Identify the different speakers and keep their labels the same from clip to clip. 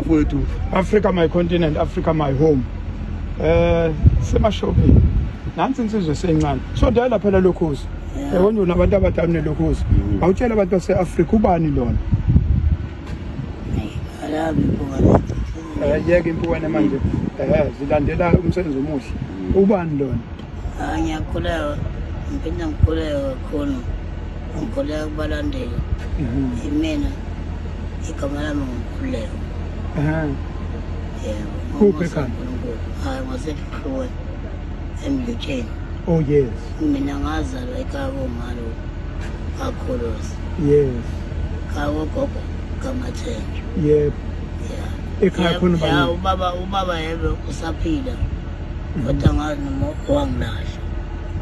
Speaker 1: mfowethu africa my
Speaker 2: continent africa my home eh semashopini nansi insizwe seyincane so dala phela lokhozi yabona unabantu abadala nelokhozi mm. awutshela abantu base-afrika ubani lona
Speaker 3: eh, yeke
Speaker 2: impukane manje eh, zilandela umsebenzi omuhle mm. ubani lona Ah, ngiyakhuleka
Speaker 3: ngiphinde ngikhuleke kakhulu ngikhuleka kubalandeli imina igama lami ngukhuleko yebo
Speaker 2: Kuphi ekhaya? uNkulunkulu hayi
Speaker 3: ngwasehlukwe emlutsheni oh yes
Speaker 2: mina ngazalwa
Speaker 3: ekhaya komalo kakhulusi yes
Speaker 2: khaya
Speaker 3: kogogo kamathenjwa yebo
Speaker 2: ya ekhaya khona ubani ubaba ubaba
Speaker 3: yebe usaphila kodwa ngazi noma wangilahla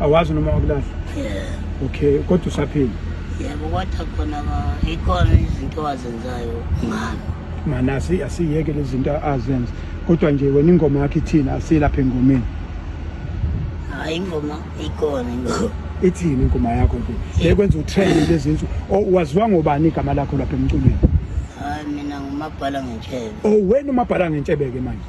Speaker 3: awazi noma
Speaker 2: wakulahla yeah okay kodwa usaphila yebo kodwa
Speaker 3: khona ikhona izinto azenzayo ngami mana
Speaker 2: asiyeke lezi zinto azenza kodwa nje wena ingoma yakho ithini asilapha engomeni hayi
Speaker 3: ingoma ikhona ingoma ithini ingoma
Speaker 2: yakho nje yekwenza utrend lezi nsuku oh, waziwa ngobani igama lakho lapha emculweni hayi mina
Speaker 3: ngumabhala ngentshebe oh wena umabhala
Speaker 2: ngentshebe ke manje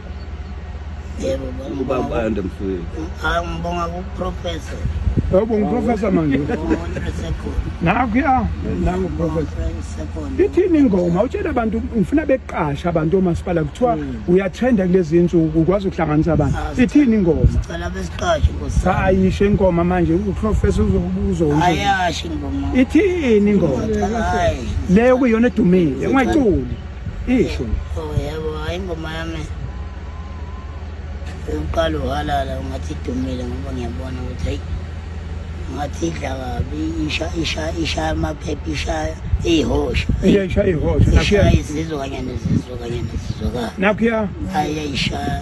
Speaker 3: Yebo ubaba
Speaker 1: ande mfowethu.
Speaker 3: Hayi ngibonga ku
Speaker 2: professor. Yebo ngiprofessor manje. Nakho ya nangu professor. Ithini ingoma utshela abantu ngifuna beqasha abantu omasipala kuthiwa hmm. uyathenda kulezi insuku ukwazi ukuhlanganisa abantu. Ah, Ithini ingoma? Sicela besiqashe
Speaker 3: nkosi. Cha ayisho ingoma
Speaker 2: manje uprofessor uzokubuza ukuthi. Ayasho ingoma.
Speaker 3: Ithini ingoma?
Speaker 2: Le
Speaker 3: kuyona
Speaker 2: edumile ungayiculi. Isho. Oh yebo,
Speaker 3: hayi ingoma yami. Uqala uhalala ungathi idumile ngoba ngiyabona ukuthi hayi ngathi idla kabi isha isha isha amaphepha isha ihosha. Isha ihosha. Isha
Speaker 2: izizwa kanye
Speaker 3: nezizwa kanye nezizwa. Nakho ya.
Speaker 2: Hayi isha.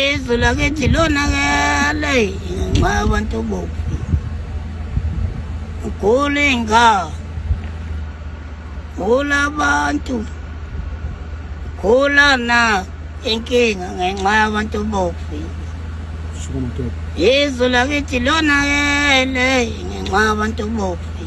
Speaker 3: izwe lakithi lonakele ngenxa yabantu boku ugula iy'ngane gula abantu gula na inkinga ngenxa yabantu bofi izwe lakithi lonakele ngenxa yabantu bofi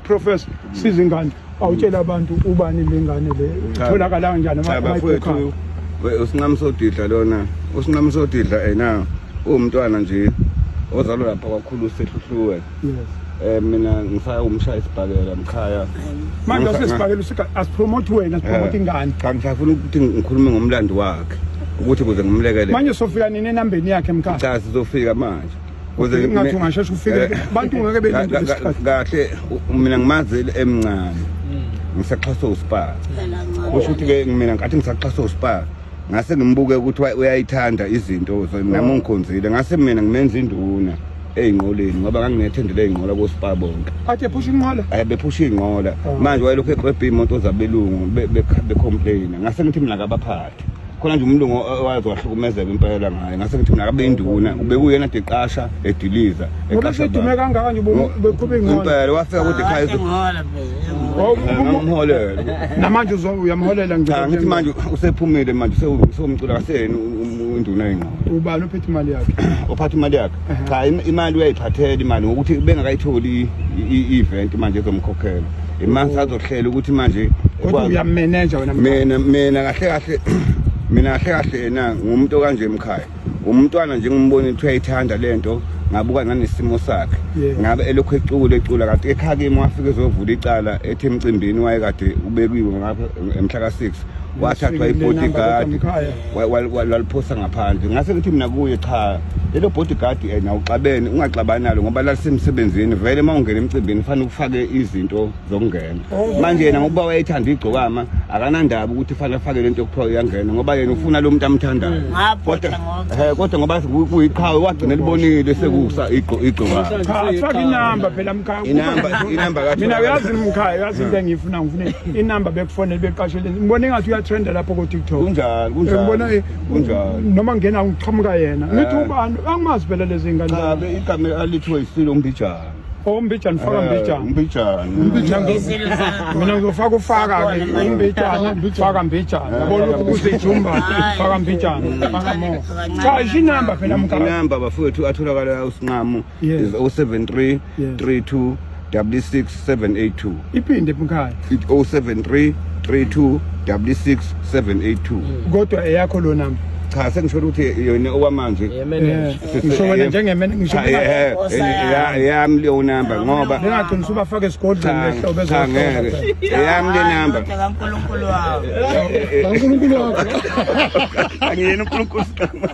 Speaker 2: Professor siza ingane awutshela abantu ubani lengane le itholakala kanjani Cha, bafowethu
Speaker 1: amayikho we- usinqamu sodidla lona usinqamu sodidla ena uwumntwana nje ozalwa lapha kwakhulu sehluhluwe yes um mina ngisaya umshaya isibhakela mkhaya manje Ngisa- usesibhakela usika asipromote
Speaker 2: wena sipromote
Speaker 1: Eh,
Speaker 2: ingane cha
Speaker 1: ngisafuna
Speaker 2: ukuthi
Speaker 1: ngikhulume
Speaker 2: ngomlando
Speaker 1: wakhe ukuthi kuze ngimlekelele manje sofika nini
Speaker 2: enambeni yakhe mkhaya cha sizofika manje
Speaker 1: Kuze Ingathi mina-
Speaker 2: ungasheshe ufike Eh, abantu ngeke belinde ka- ka- isikhathi. kahle u-
Speaker 1: mina ngimazi emncane ngisaxhaswe usipaka kusho ukuthi ke mina ngathi ngisaxhaswe usipaka ngase ngimbuke ukuthi wa- uyayithanda izinto so nami ungikhonzile ngase mina ngimenza induna eyinqoleni ngoba nganginethendele eyinqola kosipaka bonke Athe phusha inqola.
Speaker 2: ayi bephusha iy'nqola
Speaker 1: manje wayelokhu eqebhe iy'moto zabelungu be- be- becomplaina ngase ngithi mina kabaphathi khona nje umlungu owazi wahlukumezeka impela ngaye ngase ngithi mina kabe induna ubekuyena deqasha ediliza eqashadume
Speaker 2: kangaka nje beqhube ingcono impela wafika kude ah,
Speaker 1: ekhaya umholele namanje
Speaker 2: uyamholela ngithi manje
Speaker 1: usephumile manje sewumcula kaseni induna yengqondo ubani ophethe imali
Speaker 2: yakhe ophatha imali yakhe
Speaker 1: cha imali uyayiphathela imali ngokuthi bengakayitholi i-event manje ezomkhokhela imani sazohlela ukuthi manje kodwa uyamenenja
Speaker 2: wena mina mina kahle
Speaker 1: kahle mina kahle kahle yena ngumuntu okanje emkhaya umntwana nje ngimbona ukuthi uyayithanda lento ngabuka nanesimo sakhe ngabe elokhu ecula ecula kanti ekhaya kimi wafike ezovula icala ethi emcimbini wayekade ubekiwe ngapha emhla ka-six wathathwa i-bodyguard waliphosa ngaphandle ngase ngithi mina kuye cha lelo bodyguard eh, yena uxabene ungaxabani nalo ngoba lalisemsebenzini vele uma ungena emcimbini fanele ufake izinto zokungena oh. manje yena ngokuba wayethanda igcokama akanandaba ukuthi fanele afake lento yokuthiwa uyangena ngoba yena ufuna lo muntu amthandayo hmm. kodwa eh, kodwa ngoba kuyiqhawe wagcina libonile sekusa igcokama faka inamba
Speaker 2: phela mkhaya inamba inamba
Speaker 1: mina uyazi mkhaya
Speaker 2: uyazi into engiyifuna ngifuna inamba bekufonele beqashele ngibona engathi uyatrenda lapho ko-tiktok kunjalo kunjalongibona
Speaker 1: kunjalo
Speaker 2: noma ngena ngiqhamuka yena ngithi eh. ubani angimazi phela lezi ngane ngabe igama
Speaker 1: alithiwe yisile umbijana ombijana oh, faka
Speaker 2: eh, mbijana
Speaker 1: umbijana
Speaker 2: mina ngizofaka ufaka ke imbijana faka mbijana eh. yabona lokhu kuzejumba faka mbijana faka mo cha isinamba phela mkhaya inamba bafowethu
Speaker 1: atholakala usinqamo Yes. is 073 Yes. 32 66 782 iphinde
Speaker 2: mkhaya It 073 32
Speaker 1: 66 782 kodwa
Speaker 2: eyakho lo namba cha sengisho ukuthi
Speaker 1: yona okwamanje Eh, ngisho
Speaker 2: wena njengemene ngisho Cha, eh, eh, ya-
Speaker 1: yami leyo namba ngoba bengagcina usubafaka esigodlweni
Speaker 2: cha lehlo cha bezohlola ngeke eyami
Speaker 1: le namba kaNkulunkulu
Speaker 3: wami
Speaker 2: uNkulunkulu wakho
Speaker 1: angiyena uNkulunkulu siqhamuka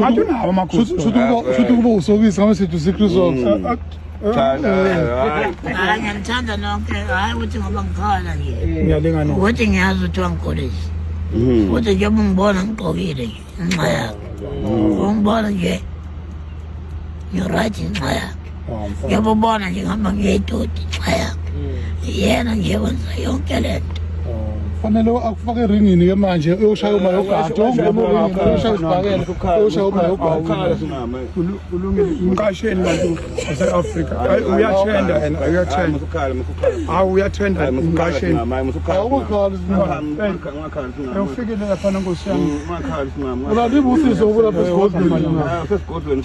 Speaker 2: Hatunawo amakhosi. Shuthi shuthi ukuba shuthi ukuba
Speaker 4: usokisi ngabe sithi uSecret Socks. Hayi ngiyakuthanda nonke.
Speaker 3: Hayi ukuthi ngoba ngikhala nje. Ngiyalinga no. Ukuthi
Speaker 2: ngiyazi ukuthi
Speaker 3: wangikhulisa. Ukuthi nje ungibona ngigqokile nje nxa yakho. Ungibona nje. You're right nxa yakho. ngiyabubona nje ngihamba ngiyedoti nxa yakhe yena nje wenza yonke le nto fanele
Speaker 4: akufake eringini ke manje uyoshaya uma yogada uyoshaya usibhakela uyoshaya uma yogada
Speaker 2: umqasheni bantu base-afrika uyathenda yena uyathenda hawu uyathenda umqasheni awufikile laphana nkosi yami
Speaker 4: ulalibusiso ukulapha esigodlweni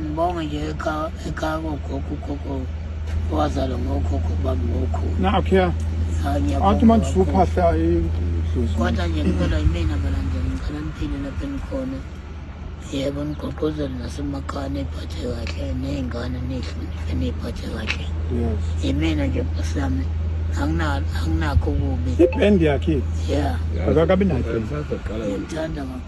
Speaker 3: Ngibonge nje ekhaya ekhaya kogogo ugogo owazalwa ngokhokho bami ngokhulu. Nakho ya.
Speaker 2: Athi manje usuphahla idlozi. Kodwa
Speaker 3: nje ngicela yimina balandela ngicela niphile lapho enikhona. Yebo nigqugquzele nasemakhaya niphathe kahle ney'ngane nihloniphe niyiphathe kahle. Yes. Yimina nje bhuti yami anginakho kubi. Ibhendi yakhe.
Speaker 2: Yeah. Akakabi
Speaker 3: nayo.
Speaker 2: Ngimthanda
Speaker 3: kakhulu.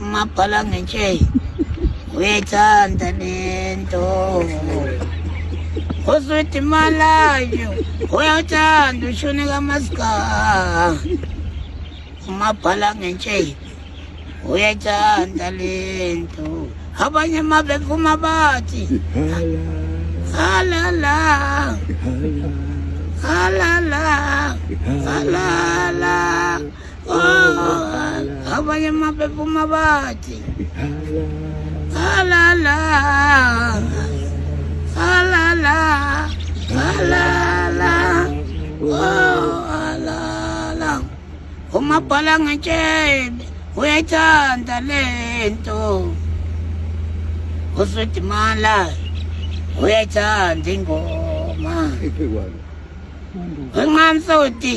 Speaker 3: umabhala ngentsheyi uyayithanda lento uswidi malayo uyawuthanda ushuni kamasika umabhala ngentsheyi uyayithanda lento abanye uma bevuma bathi halala halala halala abanye amaphepha uma bathi halala halala halala halala umabhala ngetshebe uyayithanda le nto usedimala uyayithanda ingoma wenqamsoti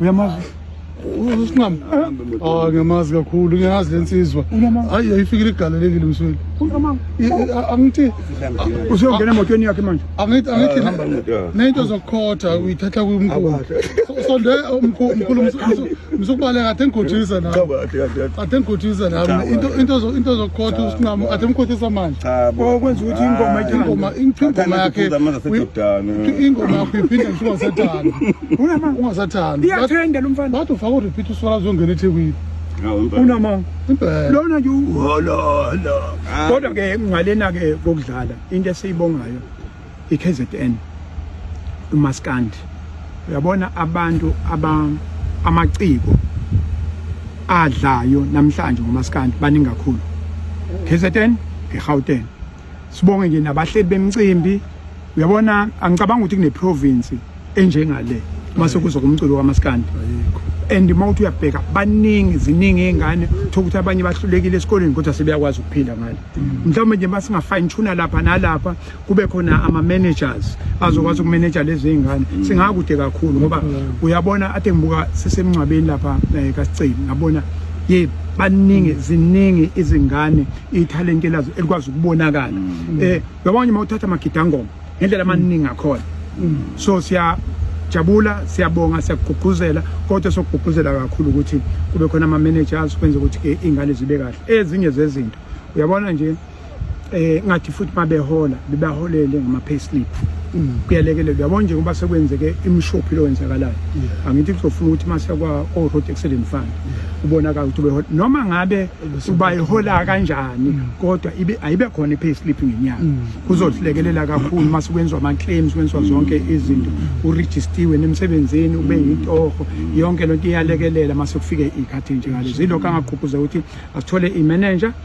Speaker 2: uyamazi
Speaker 4: usinqama ah ngiyamazi kakhulu ngiyazi lensizwa hayi ayifikile igalelekile msweli angithi
Speaker 2: usuyongena emotweni yakhe manje angithi angithi ah,
Speaker 4: nento zokukhotha uyithatha kumkhulu sonde umkhulu msukubaleka athe ngigotshisa nami athe ngigotshisa nami into into into zokukhotha usinqama athe mkhothisa manje cha bo kwenza ukuthi
Speaker 2: ingoma ingoma ingoma yakhe
Speaker 4: ingoma yakho iphinde ngisho ungasathanda unama ungasathanda iyathenda lo mfana
Speaker 2: wathi ufaka urepeat uswala
Speaker 4: uzongena ethekwini unama
Speaker 2: lona
Speaker 4: nje uhololo
Speaker 2: kodwa ke ngalena ke kokudlala into esiyibongayo iKZN umaskandi uyabona abantu aba amaciko adlayo namhlanje ngomaskandi baningi kakhulu KZN eGauteng sibonge nje nabahleli bemcimbi uyabona angicabanga ukuthi kune province enjengale mase kuzo kumculo kamaskandi and uma uthi uyabheka baningi ziningi iy'ngane thola ukuthi abanye bahlulekile esikoleni kodwa sebeyakwazi ukuphila ngale mm. mhlawumbe nje uma singa-fine tuna lapha nalapha kube khona ama-managers azokwazi ukumeneja lezi iy'ngane mm. singakude kakhulu ngoba mm. uyabona ade ngibuka sisemngcwabeni lapha um eh, kasiceli ngabona ye baningi mm. ziningi izingane ithalente lazo elikwazi ukubonakala um uyabona uma uthatha amagidangoma ngendlela amaningi akhona so siya jabula siyabonga siyakugqugquzela kodwa sokugqugquzela kakhulu ukuthi kube khona ama-managers kwenza ukuthi-ke iy'ngane zibe kahle ezinye zezinto uyabona nje eh ngathi futhi mabehola bebaholele ngama payslip mm. kuyalekelela yabona nje ngoba sekwenzeke imshophi lo wenzakalayo angithi kuzofuna ukuthi mase kwa o road accident fund ubonakala ukuthi behola noma ngabe ubayihola kanjani mm. kodwa ibe ayibe khona i payslip ngenyanga mm. kuzosilekelela kakhulu mase kwenzwa ama claims kwenzwa zonke izinto u registiwe nemsebenzini ube yintoho yonke lento iyalekelela mase kufike ikhathi nje ngalezo ilokho angaqhuquza ukuthi asithole i manager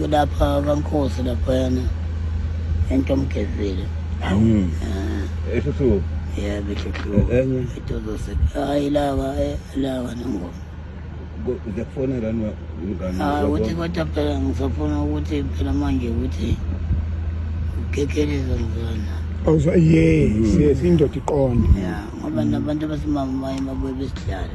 Speaker 3: kulapha kaNkosi laphayana entomgezile Mm. Ah,
Speaker 1: Eso su. ya
Speaker 3: bethekhiwe Enye.
Speaker 1: itozose
Speaker 3: hayi lawa eh, lawa nongo Ngiyakufona
Speaker 1: lani wa- ngani Ah, wakho? ukuthi kodwa phela
Speaker 3: ngisafuna ukuthi phela manje ukuthi ukekheleza ngizona Awuzwa yes
Speaker 2: yes indoda iqonde ya ngoba
Speaker 3: nabantu abasimama baye babuye besidlale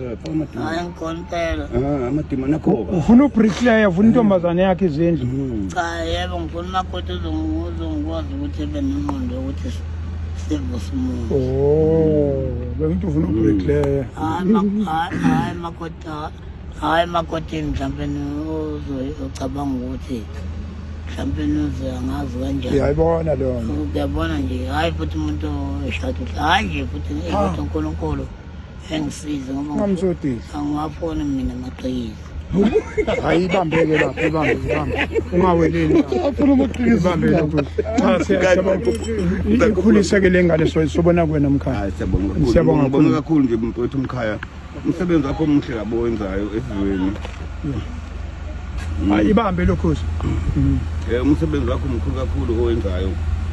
Speaker 1: hayi
Speaker 3: ngikhonipela amadima nakho
Speaker 1: ufuna ubricklayer
Speaker 2: ufuna intombazane yakhe izindlu hmm. cha yebo ngifuna
Speaker 3: umakoti uzongikwazi ukuthi ebe nenqondo yokuthi sivuse umuntu oh,
Speaker 2: bengithi ufuna hmm. ubricklayer hayi makoti
Speaker 3: hayi makoti mhlawumbe ucabanga ukuthi mhlawumbe nuze angazi kanjani uyayibona leyo nto
Speaker 2: uyabona nje hhayi
Speaker 3: futhi umuntu eshada hhayi nje futhi ukuthi unkulunkulu engisize ngoba ngamsodile angiwafoni
Speaker 2: mina
Speaker 3: amaqhikiza hayi
Speaker 2: ibambeke lapho ibambe ibambe ungaweleli afuna amaqhikiza
Speaker 4: ibambe lapho
Speaker 2: cha siyabonga ikhulise ke lengane so sobona kuwena mkhaya siyabonga
Speaker 1: kakhulu
Speaker 2: nje mfowethu
Speaker 1: mkhaya umsebenzi wakho omuhle labo wenzayo esizweni
Speaker 2: hayi ibambe lokhozi um eh,
Speaker 1: umsebenzi wakho mkhulu kakhulu owenzayo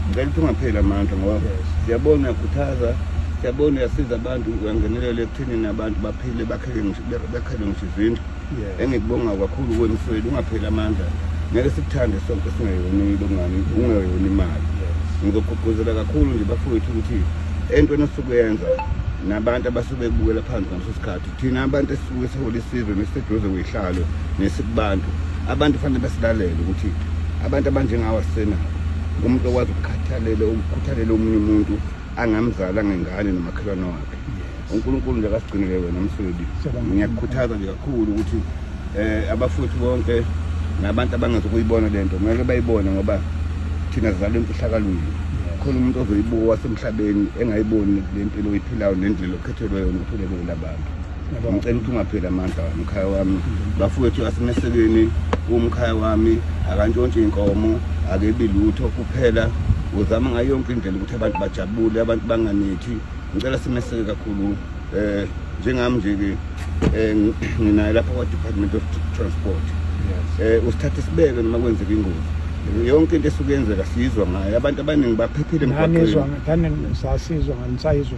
Speaker 1: ngicela ukuthi ungapheli amandla ngoba siyabona uyakhuthaza siyabona uyasiza abantu uyangenelela ekuthenini abantu baphile bakhele ngisho izindlu engikubonga kakhulu kwemsweni ungapheli amandla ngeke sikuthande sonke singayonile ungani ungayona imali ngizogqugquzela kakhulu nje bafowethu ukuthi entweni osuke yenza nabantu abasuke bebukela phansi ngaleso sikhathi thina abantu esisuke sihola isizwe nesiseduze kwihlalo nesikubantu abantu fanele basilalele ukuthi abantu abanjengawo asisenabo umuntu okwazi ukukhathalela ukukhuthalela omunye umuntu angamzali angengane nomakhelwane wakhe unkulunkulu nje akasigcinele wena msweli ngiyakukhuthaza nje kakhulu ukuthi um abafowethu bonke nabantu abangazi ukuyibona le nto kumele bayibone ngoba thina sizalwe emfihlakalweni khona umuntu ozoyibuka wasemhlabeni engayiboni le mpilo oyiphilayo nendlela Thelwe wena uthole kulo labantu. Ngicela ukuthi ungapheli amandla umkhaya wami. Bafowethu asimesekeni umkhaya wami akantshontshe inkomo akebi lutho kuphela uzama ngayo yonke indlela ukuthi abantu bajabule abantu banganithi ngicela simeseke kakhulu eh njengami nje ke eh, nginayo lapha kwa Department of Transport eh usithathe sibeke noma kwenzeka ingozi yonke into esuke yenzeka sizwa ngayo abantu abaningi baphephile emgwaqweni ngizwa ngani
Speaker 2: sasizwa ngani sayizwa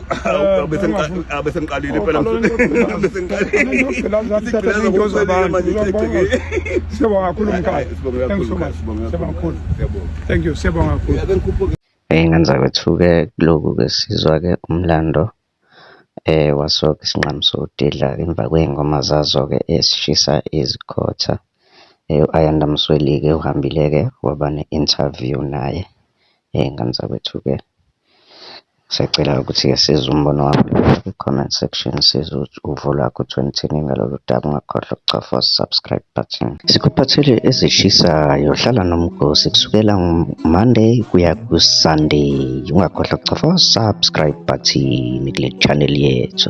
Speaker 1: besengiqalile phela
Speaker 2: siyabonga kakhulu mkhaya thank you siyabonga kakhulu Ey'ngane
Speaker 5: zakwethu-ke kulokhu-ke sizwa-ke umlando eh, waso-ke isinqamu sodidla-ke emva kwey'ngoma zazo-ke ezishisa izikhotha. Eh, U-Ayanda Msweli-ke uhambile-ke waba ne-interview naye Hheyi ngane zakwethu-ke ngisacela ukuthi-ke siza umbono wakho kwi-comment section siza uvo lwakho ukuthi wena uthini ngalolu daba ungakhohlwa ukucofa u-subscribe button. Sikuphathele ezishisayo hlala nomgosi kusukela Monday kuya ku-Sunday ungakhohlwa ukucofa u-subscribe button kule channel yethu.